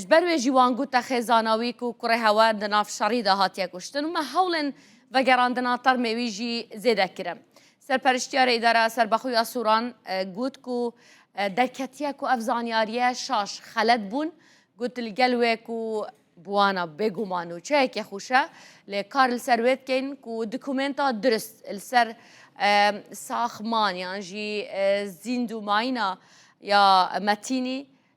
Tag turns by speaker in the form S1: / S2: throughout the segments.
S1: ژ بەر وێ ژی وان گووتە خێزاناویک و کوڕێ هەوار دە ناف شەڕی دا هاتیە کوشتن و مە هەوڵێن ڤەگەراندنا تەڕ مێوی ژی زێدە کرم. سەرپەرشتیارێ ئیدارە سەربەخویا سووران گووت کو دەرکەتیە کو ئەڤ زانیاریە شاش خەلەت بوون، گووت ل گەل وێ کو بوانە بێ گومان و چەێکێ خووشە لێ کار ل سەر وێ دکەین کو دکومێنتا درست ل سەر ساخمان یان ژی زیندووماینا یا مەتینی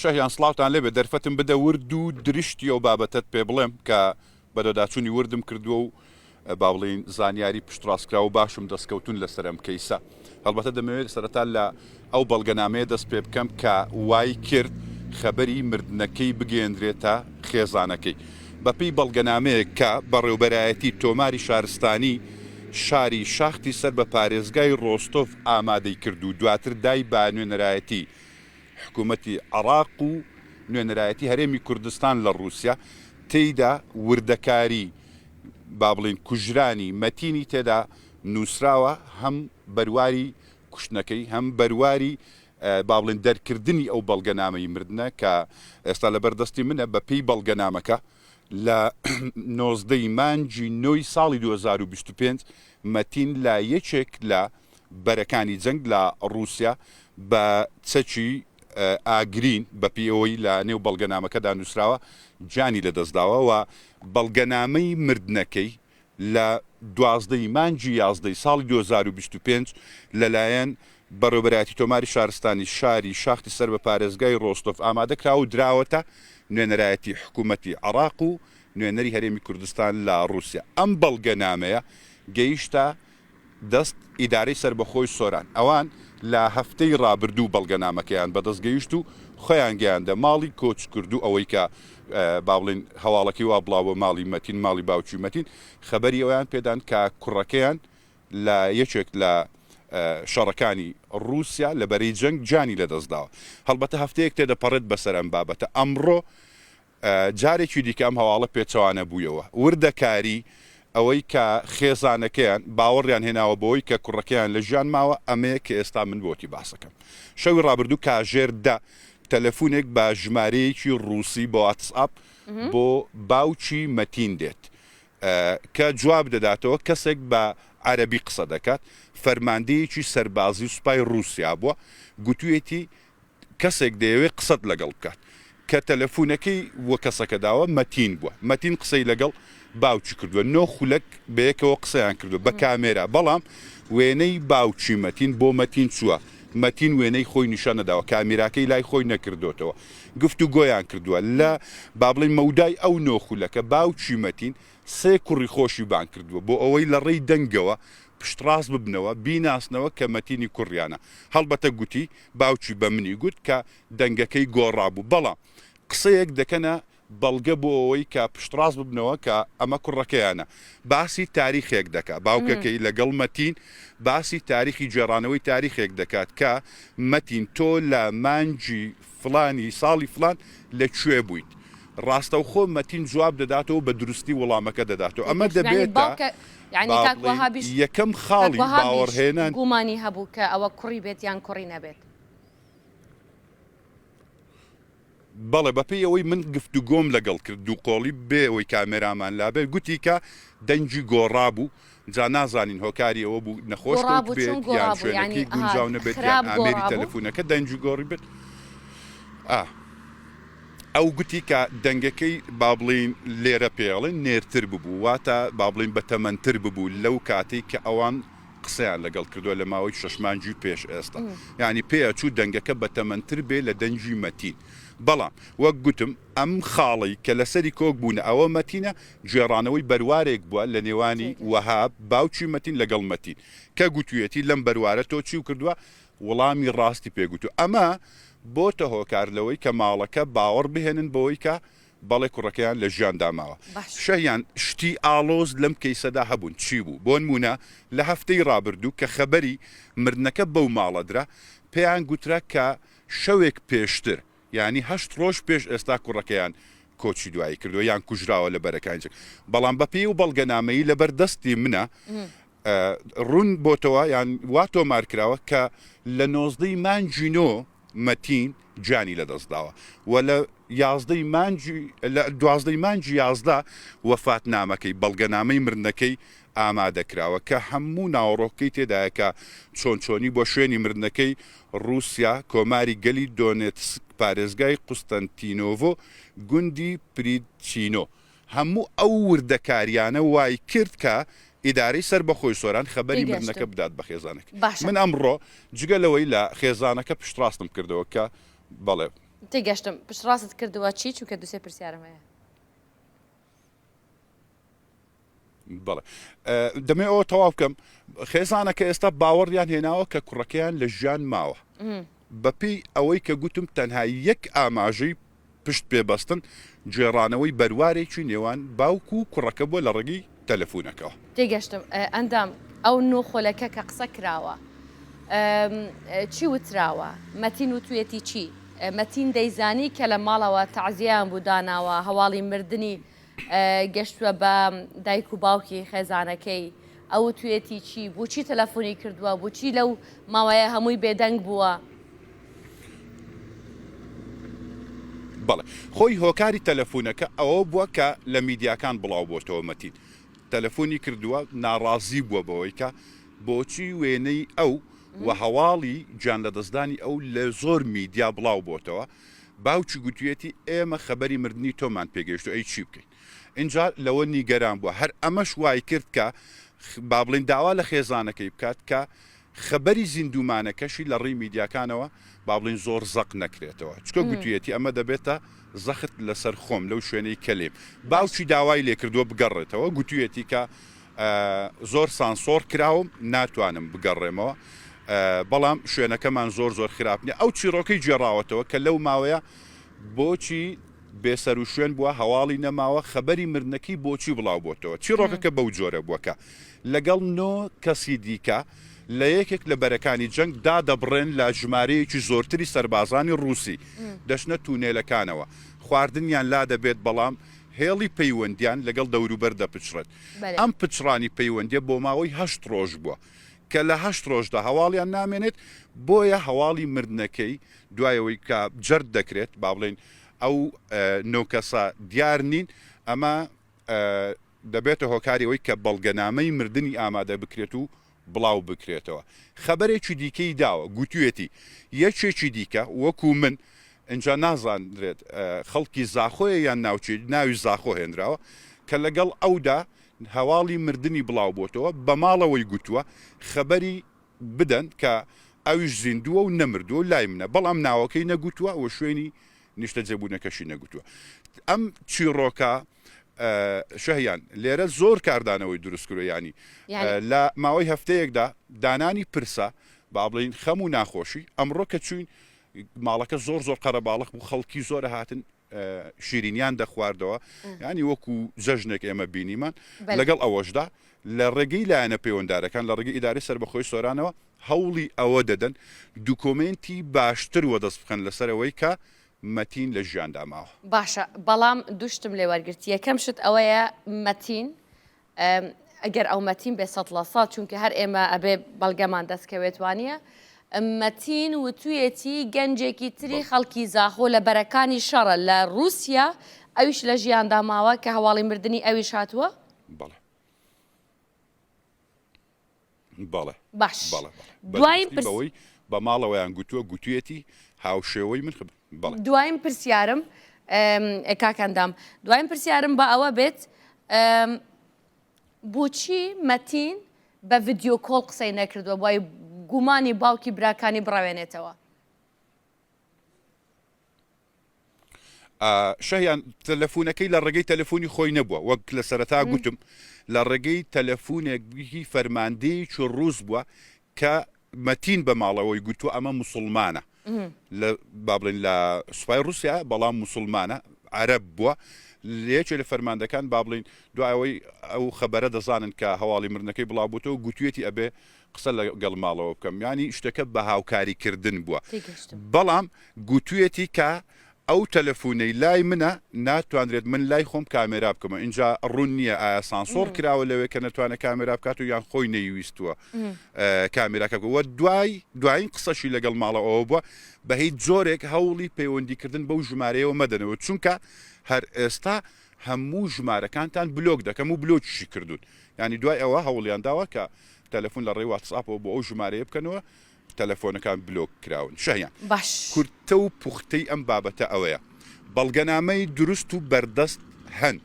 S2: شەهیان سڵاوتان لێبێ دەرفەتم بدە ورد و درشتی ئەو بابەتت پێ بڵێم کە بەدەداچوونی وردم کردووە و با بڵین زانیاری پشتڕاستکرا و باشم دەستکەوتون لەسەرم کەیسە هەڵبەتە دەمەوێت سەرەتا لە ئەو بەڵگەنامەیە دەست پێ بکەم کە وای کرد خەبەری مردنەکەی بگەێندرێتە خێزانەکەی بەپێی بەڵگەنامەیەک کە بەڕێوبەرایەتی تۆماری شارستانی شاری شاختی سەر بە پارێزگای ڕۆستۆڤ ئامادەی کرد و دواتر دای بە نوێنەرایەتی حکوومەتی عێراق و نوێنەرایەتی هەرێمی کوردستان لە ڕووسیا، تێیدا وردەکاری با بڵێین کوژرانی مەتینی تێدا نووسراوە، هەم بەرواری کوشتنەکەی، هەم بەرواری با بڵێین دەرکردنی ئەو بەڵگەنامەی مردنە کە ئێستا لەبەر دەستی منە، بە پێی بەڵگەنامەکە لە نۆزدە ی مانگی نۆ ی ساڵی دوو هەزار و بیست و پێنج مەتین لە یەکێک لە بەرەکانی جەنگ لە ڕووسیا بە چەکی ئاگرین بە پێی ئەوەی لە نێو بەڵگەنامەکەدا نووسراوە گیانی لەدەست داوە و بەڵگەنامەی مردنەکەی لە دوازدە ی مانگی یازدە ی ساڵی دوو هەزار و بیست و پێنج لەلایەن بەڕێوەبەرایەتی تۆماری شارستانی شاری شاختی سەر بە پارێزگای ڕۆستۆڤ ئامادە کراوە و دراوەتە نوێنەرایەتی حکوومەتی عێراق و نوێنەری هەرێمی کوردستان لە ڕووسیا ئەم بەڵگەنامەیە گەیشتە دەست ئیدارەی سەربەخۆی سۆران ئەوان لە هەفتەی رابردوو بەڵگەنامەکەیان بەدەست گەیشت و خۆیان گەیاندە ماڵی کۆچکردوو ئەوەیکە بابڵێین هەواڵەکەی وا بڵاوبوە ماڵی مەتین ماڵی باوکی مەتین خەبەری ئەوەیان پێدان کە کوڕەکەیان لە یەکێک لە شەڕەکانی روسیا لە بەرەی جەنگ گیانی لەدەستداوە هەڵبەتە هەفتەیەک تێدەپەڕێت بەسەر ئەم بابەتە ئەمڕۆ جارێکی دیکە ئەم هەواڵە پێچەوانە بوویەوە. وردەکاری ئەوەی کە خێزانەکەیان باوەڕیان هێناوە بەوەی کە کوڕەکەیان لە ژیان ماوە ئەمەیە کە ئێستا من بۆتی باس ئەکەم. شەوی ڕابردوو کاژێر دە تەلەفونێک بە ژمارەیەکی ڕووسی بە واتس ئاپ بۆ باوکی مەتین دێت کە جواب دەداتەوە کەسێک بە عەرەبی قسە دەکات فەرماندەیەکی سەربازی سوپای ڕووسیا بووە گوتویەتی کەسێک دەیەوێت قسەت لەگەڵ بکات کە تەلەفونەکەی بۆ کەسەکە داوە مەتین بوە مەتین قسەی لەگەڵ باوکی کردوە نۆ خولەک بەیەکەوە قسەیان کردوە بە کامێرا بەڵام وێنەی باوکی مەتین بۆ مەتین چوە مەتین وێنەی خۆی نیشان نەداوە کامیراکەی لای خۆی نەکردۆتەوە گفتوگۆیان کردوە لە بابڵی مەودای ئەو نۆ خولەکە باوکی مەتین سێ کوڕی خۆشی بانگ کردوە بۆ ئەوەی لە ڕێی دەنگەوە پشتڕاست ببنەوە بیناسنەوە کە مەتینی کوڕیانە هەڵبەتە گوتی باوکی بە منی گوت کە دەنگەکەی گۆڕابوو، بەڵام قسەیەک دەکەنە بەڵگە بۆ ئەوەی کە پشتڕاست ببنەوە کە ئەمە کوڕەکەیانە. باسی تاریخێک دەکات، باوکەکەی لەگەڵ مەتین باسی تاریخی گێڕانەوەی تاریخێک دەکات کە، مەتین تۆ لە مانگی فڵانی ساڵی فڵان لە کوێ بوویت؟ ڕاستەوخۆ مەتین جواب دەداتەوە و بە دروستی وڵامەکە دەداتەوە. ئەمە دەبێتە. یەعنی کاک وەهابیش کاک وەهابیش گومانی هەبوو کە ئەوە کوڕی بێت یان
S1: کوڕی نەبێت؟
S2: بەڵێ بەپێی ئەوەی من گفتوگۆم لەگەڵ کرد دووقۆڵی بێ ئەوەی کامێرامان لابێت گوتی کە دەنگی گۆڕابوو جا نازانین هۆکاری ئەوە بوو نەخۆش بێت یان شوێنەکەی گونجاو نەبێت یان ئامێری تەلەفونەکە دەنگی گۆڕی بێت ئا. ئەو گوتی کە دەنگەکەی با بڵێین لێرە پێی ئەڵێن نێرتر ببوو، واتە با بڵێین بەتەمەنتر ببوو لەو کاتەی کە ئەوان قسەیان لەگەڵ کردووە لە ماوەی شەش مانگی پێش ئێستا، یانی پێ ئەچوو دەنگەکە بەتەمەنتر بێ لە دەنگی مەتین، بەڵام وەک گوتم ئەم خاڵەی کە لەسەری کۆک بوونە ئەوە مەتینە، گێڕانەوەی بەروارێک بووە لە نێوانی وەهاب باوکی مەتین لەگەڵ مەتین، کە گوتوویەتی لەم بەروارە تۆ چیو کردووە، وڵامی ڕاستی پێ گوت و ئەمە بۆتە هۆکار لەوەی کە ماڵەکە باوەڕ بهێنن بەوەی کە بەڵێ کوڕەکەیان لە ژیاندا ماوە. شەهیان، شتی ئاڵۆز لەم کەیسەدا هەبوون چی بوو؟ بۆنموونە لە هەفتەی ڕابردوو کە خەبەری مردنەکە بەو ماڵە درا پێیان گوترا کە شەوێک پێشتر یانی هەشت ڕۆژ پێش ئێستا کوڕەکەیان کۆچی دوایی کردووە یان کوژراوە لە بەرەکانی جەنگ بەڵام بەپێی ئەو بەڵگەنامەیی لەبەر دەستی منە ڕوون بۆتەوە یان وا تۆمار کراوە کە لە نۆزدە ی مانگی نۆ مەتین گیانی لە دەست داوە و لە یازدە ی مانگی لە دوازدە ی مانگی یازدە وەفاتنامەکەی، بەڵگەنامەی مردنەکەی، ئامادە کراوە کە هەموو ناوەڕۆکەکەی تێدایە کە چۆن چۆنی بۆ شوێنی مردنەکەی، ڕووسیا، کۆماری گەلی دۆنێتسک، پارێزگای قوستەنتینۆڤۆ، گوندی پریدچینۆ. هەموو ئەو وردەکاریانە وایکرد کە ئیدارەی سەربەخۆی سۆران خەبەری مردنەکە بدات بە خێزانەکەی. من ئەمڕۆ جگە لەوەی لە خێزانەکە پشتڕاستم کردەوە کە بەڵێ. تێگەشتم.
S1: پشتڕاستت کردوە چی؟ چونکە دوو سێ پرسیارم هەیە.
S2: بەڵێ دەمێ ئەوە تەواو بکەم خێزانەکە ئێستا باوەڕیان هێناوە کە کوڕەکەیان لە ژیان ماوە بەپی ئەوەی کە گوتم تەنها یەک ئاماژەی پشت پێبەستن گوێڕانەوەی بەروارێکی نێوان باوکو و کوڕەکە بووە لە ڕێگەی تەلەفۆنەکەەوە تێگەشتم
S1: ئەندام ئەو نۆ خۆلەکە کە قسە کراوە چی وتراوە مەتین و توێتی چی مەتین دەیزانی کە لە ماڵەوە تەعزیان بوو داناوە هەواڵی مردنی گەشتوە بە دایک و باوکی خێزانەکەی ئەوتوێتی چی بوچی تەلەفۆنی کردووە بچی لەو ماوەیە هەمووی بێدەنگ بووە.
S2: بەڵێ خۆی هۆکاری تەلەفونەکە ئەوە بووە کە لە میدیاکان بڵاو بۆتەوە مەتین تەلەفۆنی کردووە ناڕازی بووە بەوەی کە بۆچی وێنەی ئەو و هەواڵی گیان لەدەستدانی ئەو لە زۆر میدیا بڵاو بۆتەوە باوکی گوتویەتی ئێمە خەبەری مردنی تۆمان پێگەیشتوە ئەی چی بکەین؟ ئینجا لەوە نیگەران بوە هەر ئەمەش وایکرد کە با بڵێین داوا لە خێزانەکەی بکات کە خەبەری زیندومانەکەشی لە ڕیی میدیاکانەوە با بڵێین زۆر زەق نەکرێتەوە چکە گوتویەتی ئەمە دەبێتە زەخت لەسەر خۆم لەو شوێنەی کەلیم باوکی داوای لێکردوە بگەڕێتەوە گوتویەتی کە زۆر سانسۆڕ کراوم ناتوانم بگەڕێمەوە بەڵام شوێنەکەمان زۆر زۆر خراپ نیە ئەو چیڕۆکەی گێڕاوەتەوە کە لەو ماوەیە بۆچی بێسەرو شوێن بووە هەواڵی نەماوە خەبەری مردنەکەی بۆچی بڵاو بۆتەوە چیڕۆکەکە بەو جۆرە بووە کە لەگەڵ نۆ کەسی دیکە لە یەکێک لە بەرەکانی جەنگ دادەبڕێن لە ژمارەیەکی زۆرتری سەربازانی ڕووسی دەشنە تونێلەکانەوە خواردنیان لا دەبێت بەڵام هێڵی پەیوەندیان لەگەڵ دەوروبەر دەپچڕێت ئەم پچڕانی پەیوەندییە بۆ ماوەی هەشت ڕۆژ بووە، کە لە هەشت ڕۆژدا هەواڵیان نامێنێت، بۆیە هەواڵی مردنەکەی دوای ئەوەی کە جەرد دەکرێت، با بڵێین ئەو نۆ کەسە دیار نین، ئەمە دەبێتە هۆکاری ئەوەی کە بەڵگەنامەی مردنی ئامادە بکرێت و بڵاوبکرێتەوە خەبەرێکی دیکەی داوە گوتویەتی یەکێکی دیکە وەکو من ئینجا نازاندرێت خەڵکی زاخۆیە یان ناوچەی ناوی زاخۆ هێنراوە کە لەگەڵ ئەودا هەواڵی مردنی بڵاوبۆتەوە بە ماڵەوەی گوتوە خەبەری بدەن کە ئەویش زیندووە و نەمردووە و لای منە بەڵام ناوەکەی نەگوتوە و شوێنی نیشتەجێبونەکەشی نەگوتوە ئەم چیڕۆکە شهیان، لێرە زۆر کاردانەوەی دروست کروە یانی لە ماوەی هەفتەیەکدا دانانی پرسە با بڵین خەم و ناخۆشی ئەمڕۆ کە چوین ماڵەکە زۆر زۆر قەرەباڵق بوو خەڵکی زۆر هاتن شیرینیان دەخواردەوە ینی وەکو جەژنێک ئێمە بینیمان لەگەڵ ئەوەشدا لە ڕێگەی لایەنە پەیوەندارەکان لە ڕێگەی ئیداری سەر بەخۆی سۆرانەوە هەوڵی ئەوە دەدەن دوکۆمنتی باشتر وە دەست بخەن لەسەرەوەی کە مەتین لە ژیاندا ماوە. باشە بەڵام
S1: دوو شتم لێ وەرگرت یەکەم شت ئەوەیە مەتین گەر ئەو مەتین بێ سەد لە سەد چونکە هەر ئێمە ئەبێ بەڵگەمان دەست کەوێت وانیە مەتین وتویەتی گەنجێکی تری خەڵکی زاخۆ لە بەرەکانی شەڕە لە روسیا ئەویش لە ژیاندا ماوە کە هەواڵی مردنی ئەویش هاتووە؟ بەڵێ.
S2: بەڵێ باش بەڵێ بەڵێ دوایین
S1: بەدەستی پرس
S2: بەوەی بە ماڵەوەیان گوتووە گوتویەتی هاوشێوەی من خب بەڵێ دوایین
S1: پرسیارم ئەم، کاک ئەندام دوایین پرسیارم با ئەوە بێت ئەم، بۆچی مەتین بە ڤیدیۆ کۆڵ قسەی نەکردووە وای گومانی باوکی براکانی بڕەوێنێتەوە؟
S2: شایان تەلەفونەکەی لە ڕێگەی تەلەفۆنی خۆی نەبووە وەک لە سەرەتا گوتم لە ڕێگەی تەلەفونێک بگی فەرماندەی چ ڕووس بووە کە مەتین بە ماڵەوەی گوتووە ئەمە مسلمانە لە بابلین لە سوپای رووسیا بەڵام مسلمانە عرب بووە لەیەکێ لە فەرماندەکان بابلین دوایەوەی ئەو خەبەرە دەزانن کە هەواڵی مرنەکەی بڵاوبووەوە گوتوێتی ئەبێ قسە لە گەڵ ماڵەوە بکەم یانی شتەکە بە هاوکاری کردن بووە تێگەشتم. بەڵام گوتویەتی کە ئەو تەلەفونەی لای منە ناتوانرێت من لای خۆم کامێرا بکەمەوە ئینجا ڕوون نییە ئایا سانسۆڕ کراوە لەوێ کە نەتوانێت کامێرا بکات و یان خۆی نەیویستووە کامێراکە بکە وە دوای دواین قسەشی لە گەڵ ماڵەوە ئەوە بووە بە هیچ جۆرێک هەوڵی پەیوەندی کردن بەو ژمارەیەوە مەدەنەوە چونکە هەر ئێستا هەموو ژمارەکانتان بلۆک دەکەم و بلۆکیشی کردوون یانی دوای ئەوە هەوڵیان داوە کە تەلەفون لە ڕێی واتسئاپەوە بۆ ئەو ژمارەیە بکەنەوە تەلەفۆنەکان بلۆک کراون شەهیان باش کورتە و پوختەی ئەم بابەتە ئەوەیە بەڵگەنامەی دروست و بەردەست هەن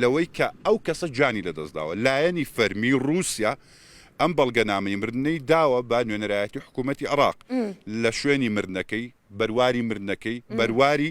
S2: لەوەی کە ئەو کەسە گیانی لەدەستداوە لایەنی فەرمی ڕووسیا ئەم بەڵگەنامەی مردنەی داوە بە نوێنەرایەتی حکوومەتی عێراق لە شوێنی مردنەکەی بەرواری مردنەکەی بەرواری